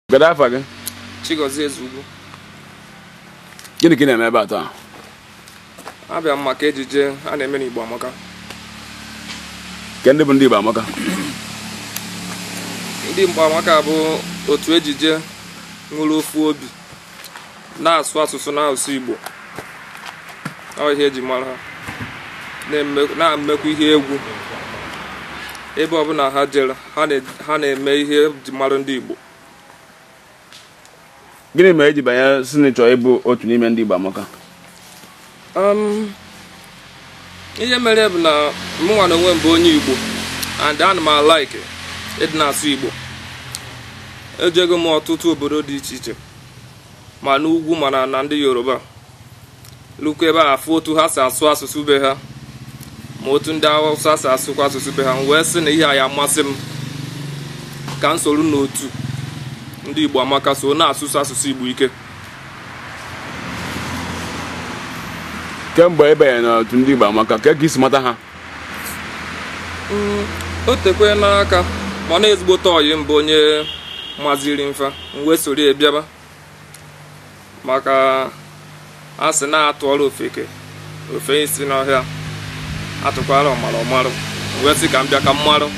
Kedu afa gị? Chigozie Ezugwu. Gịnị ka ị na-eme ebe a taa? Abịa m maka ejije a na-eme n'Igbo Amaka. Ke ndị bụ ndị Igbo Amaka? Ndị Igbo Amaka bụ otu ejije nwere ofu obi na-asụ asụsụ n'asụsụ Igbo. Ọ ihe eji mara ha. Na-emekwa ihe egwu ebe ọbụla ha jere. ha na- ha na-eme ihe eji mara ndị igbo gịnị mere i ji banye sị na ị chọrọ ịbụ otu n'ime ndị Igbo amaka Um, ihe mere bụ na mụnwa na onwe m bụ onye igbo and ana m alike ịdị na-asụ igbo ejego m ọtụtụ obodo dị iche iche ma n'ugwu ma n'ana ndị yoruba lukwa ebe a afụ otu ha si asụ asụsụ be ha ma otu ndị awụsa si asụkwa asụsụ be ha m wee sị na ihe a ya-amasị m ka m soro n'otu ndị igbo amaka so na-asụsi asụsụ igbo ike kemgbe ị banyere n'otu ndị igbo amaka kee ka i si mata ha Mm, o tekwena aka mana ezigbote ọyị m bụ onye maziri m fa m wee soro ya bịaba maka a sị na a tụọrọ ofeke o fee isi n'ọhịa a tụkwara ọmara ọ marụ m wee sị ka m bịa ka m marụ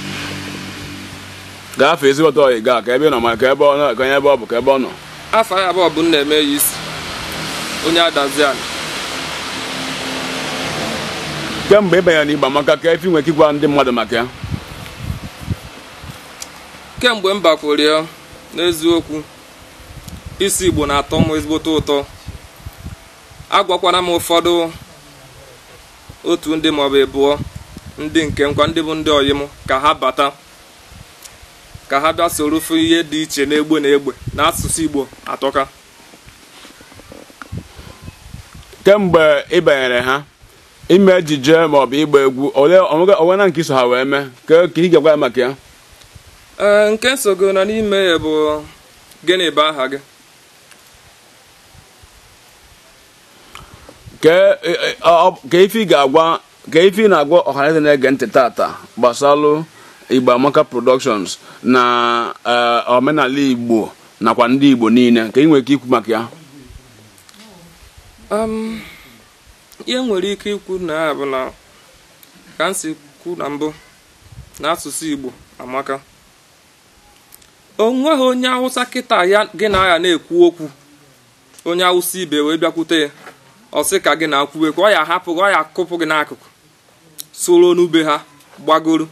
Kee afa ezigbote ọyị gị a kee ebe ọ nọ ma kee ebe ọ nọ kee onye ebe ọ bụ kee ebe ọ nọ afa ya bụ Obinna Emeyisi onye Adazi-Ani kemgbe ị banyere n'Igbo Amaka kee ife ị nwere ike ịgwa ndị mmadụ maka ya kemgbe m bakwuru ya n'eziokwu ịsụ igbo na-atọ m ezigbote ụtọ agwakwana m ụfọdụ otu ndị maọbụ ịbụọ ndị nke m kwa ndị bụ ndị ọyị m ka ha bata ka ha bịa soro fụ ihe dị iche n'egbe na egbe na asụsụ igbo atọka kemgbe ị banyere ha ime ejije maọbụ ịgba egwu o nwena nke i so ha wee mee ka ị ga-agwa anyị maka ya ee nke m sogo na n'ime ya bụ gịnị bụ aha gị kee ife ị ga-agwa kee ife ị na-agwa ọhaneze na-ege ntị tata gbasalụ Igbo Amaka Productions na eh, omenala Igbo nakwa ndị Igbo niile kee ihe ị nwere ike ikwu maka ya um, ihe m nwere ike ikwu na ya bụ na ka m si kwu na mbụ na asụsụ Igbo amaka onweghị onye awụsa kịtaa gị na ya na-ekwu okwu onye awụsa ibe wee bịakwute ya ọ sị ka gị na ya kwuwe ka ọ ya-ahapụ gị ọ ya-akụpụ gị n'akụkụ soro onye be ha gbagoro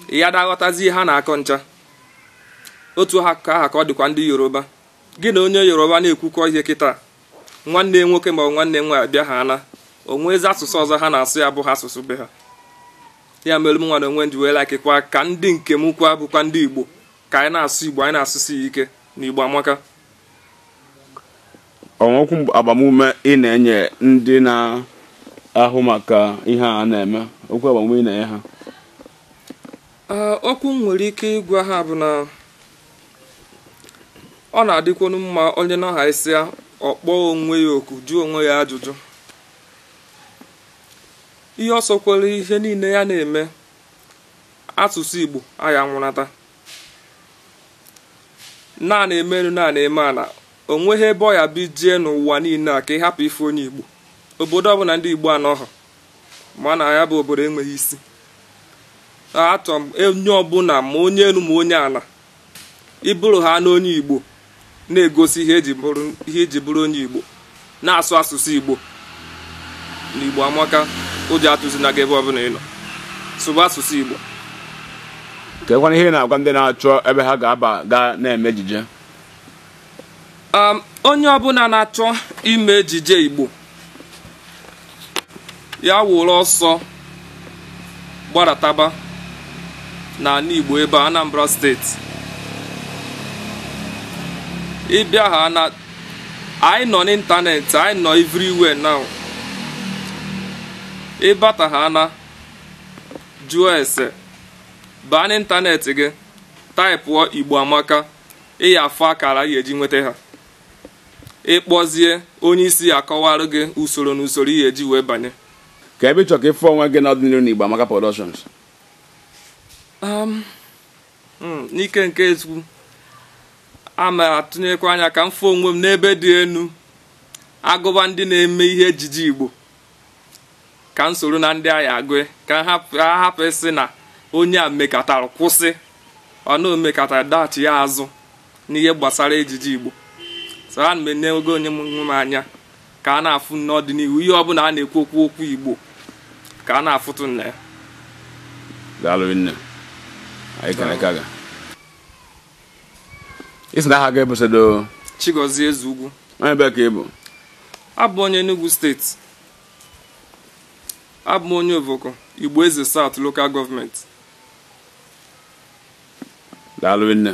ya daghọtazi ihe ha na-akọ ncha otu aha ka ọ dịkwa ndị yoruba gị na onye yoruba na-ekwukọ ihe kịta nwanne nwoke ma ọ bụ nwanne nwaanyị bịa ha na o nwezi asụsụ ọzọ ha na-asụ ya abụha asụsụ be ha ya mere m nwa na onwe m ji wee laịkịkwa ka ndị nke m kwa bụkwa ndị igbo ka anyị na-asụ igbo anyị na-asụsi ya ike na igbo amaka o nwere okwu agbamume ị na-enye ndị na-ahụ maka ihe a na-eme okwu agbamume ị na-enye ha okwu m nwere ike ịgwa ha bụ na ọ na-adịkwanụ mma onye nọhasịa ọ kpọọ onwe ya oku jụọ onwe ya ajụjụ ihe ọ sọkwara ihe niile ya na-eme asụsụ Igbo aya-anwụ nata na a na-eme elu na a na-eme ala o nweghị ebe ọ ya-abụ i jee n'ụwa niile a ka ị hapụ ịfụ onye igbo obodo ọbụla ndị igbo anọghọ ma na ya bụ obodo enweghị isi achọrọ m onye ọbụla ma onye elu ma onye ala ị bụrụ ha na onye igbo na-egosi ihe i ji bụrụ onye igbo na-asụ asụsụ igbo na igbo amaka ụjọ atụzina gị ebe ọbụla ị nọ sụba asụsụ igbo kekwanụ ihe ị na-agwa ndị na-achọ ebe ha ga-aba ga na-eme ejije Um, onye ọbụla na-achọ ime ejije igbo ya wụrụ ọsọ gbarataba n'ala Igbo ebe Anambra steeti ị bịa ha na anyị nọ n'ịntanetị anyị nọ everywhere now ị bata ha na jụọ ese baa n'ịntanetị gị taịpụọ Igbo Amaka ị ya-afụ akara ị ya-eji nweta ha ị kpọzie onye isi a kọwara gị usoro n'usoro ihe e ji wee banye kee ebe ị chọrọ ka ị fụ onwe gị n'ọdịnihu na Igbo Amaka Productions um, hmm, n'ike nke eze ukwu ana m atụnyekwa anya ka m fụ onwe m n'ebe dị elu a gụba ndị na-eme ihe ejije Igbo ka m soro na ndị a ya-agụ ka ha hapụ ịsị na onye a mekatara kwụsị or na o mekatara daghachi ya azụ n'ihe gbasara ejije igbo so ana m enego onwe m anya ka a na-afụ n'ọdịnihu ihe ọbụla a na-ekwu okwu okwu igbo ka a na-afụtụ m na ya daalụ nne anyị kere ka ga ị sị na aha gị bụ sedo Chigozie Ezeugwu onye ebee ka ị bụ abụ onye Enugu steeti abụ m onye Ovoko Igbo Eze South Local Government daalụ nne